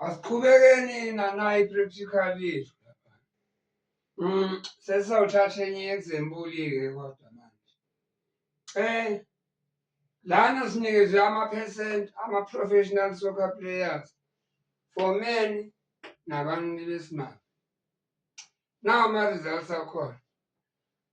Asiqhubekeni nanayi practical yethu lapha. Mm, sesizawuthatha enye example-ke kodwa manje. Eh lana sinikezwe ama-percent ama-professional soccer players for men nabantu besimame. Nawo ama-results akhona.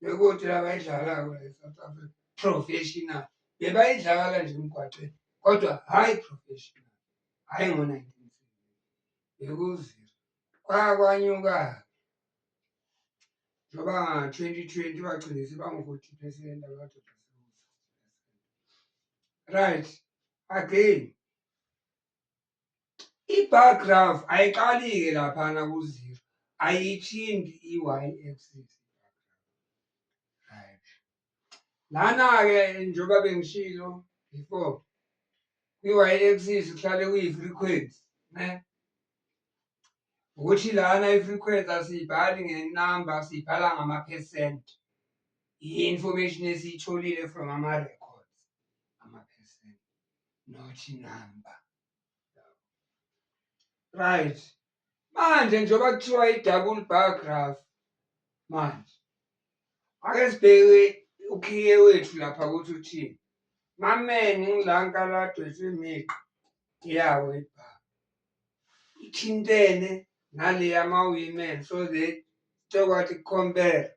bekuthi abayidlalayo e-south africa professional bebayidlakala nje emgwaqeni kodwa hhayi professional hhayi ngo-nineteen bekuziro kwakwanyuka njengoba nga-twenty twenty bagcine sebangu-forty percent abadoda right again I-bar graph ayiqali-ke laphana ku-zero, ayithindi i-y-axis. Right. Lana-ke njengoba bengishilo before, kwi-y-axis kuhlale kuyi-frequency, ne? Ukuthi lana i-frequency asiyibhali ngenamba, siyibhala ngama-percent. I-information esiyitholile from ama-record. not number right manje njengoba kuthiwa i-double bar graph manje ake sibheke ukhiye wethu lapha ukuthi uthini mameni ngilankaladwe simiqa yawo ibhaka ithintene naleya ma-women so that sekwathi compare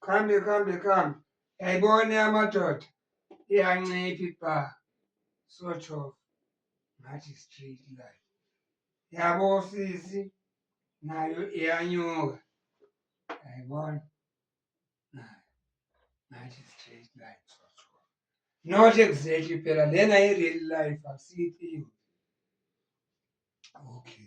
kuhambe kuhambe kuhambe yayibona amadoda iyancipha ibha sort of ngathi street life yabo sisi nayo iyanyuka yayibona nayo ngathi street life sort of not exactly phela lena i-real life akusiyithiyo okay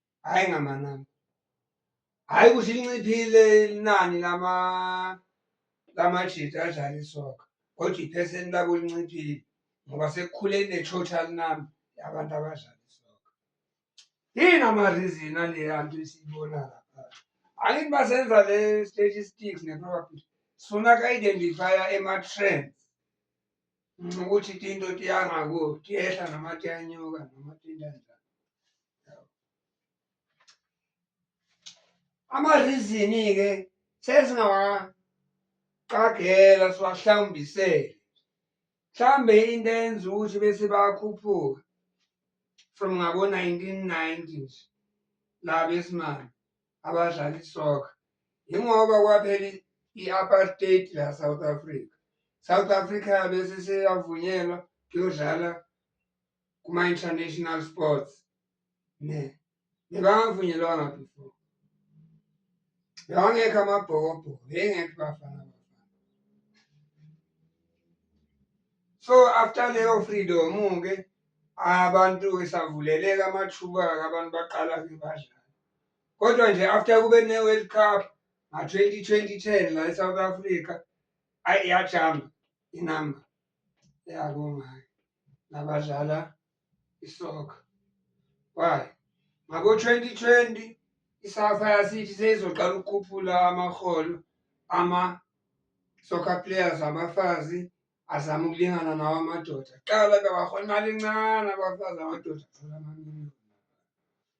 hhayi ngamanani hhayi ukuthi linciphile inani lama lamajita adlala isoka kodwa iphesenti labo linciphile ngoba sekukhule ne-total number yabantu abadlala isoka yini amarizini aleya nto esiyibona lapha angithi basenza le statistics ne-probability sifuna ka-identifya ema-trends Ngincoma ukuthi tinto tiyanga ku tiyehla noma tiyanyuka noma tinto njani. Amarizini-ke sesingawaqagela siwahlawumbisele. Mhlambe into eyenza ukuthi bese bakhuphuka from ngabo-1990s la besimame. abadlala isoka yingoba kwaphela i-apartheid la South Africa South Africa bese seyavunyelwa kuyodlala kuma-international sports ne nebangavunyelwanga before bewangekho amabhokobhoko bengekho bafana so after leyo freedom-ke abantu esavuleleka amathuba-ke abantu baqala-ke badlala. kodwa nje after kube ne-world cup nga-twenty twenty ten la e-south africa ayi iyajamba inamba yakongayo nabadlala isoka why ngabo-twenty twenty isafa yasithi seyizoqala ukukhuphula amaholo ama-soccer players abafazi azama ukulingana nawo amadoda qala bewahola imali encane abafazi amadoda athola amanini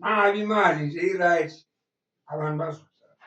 mali imali nje i-right abantu bazodlala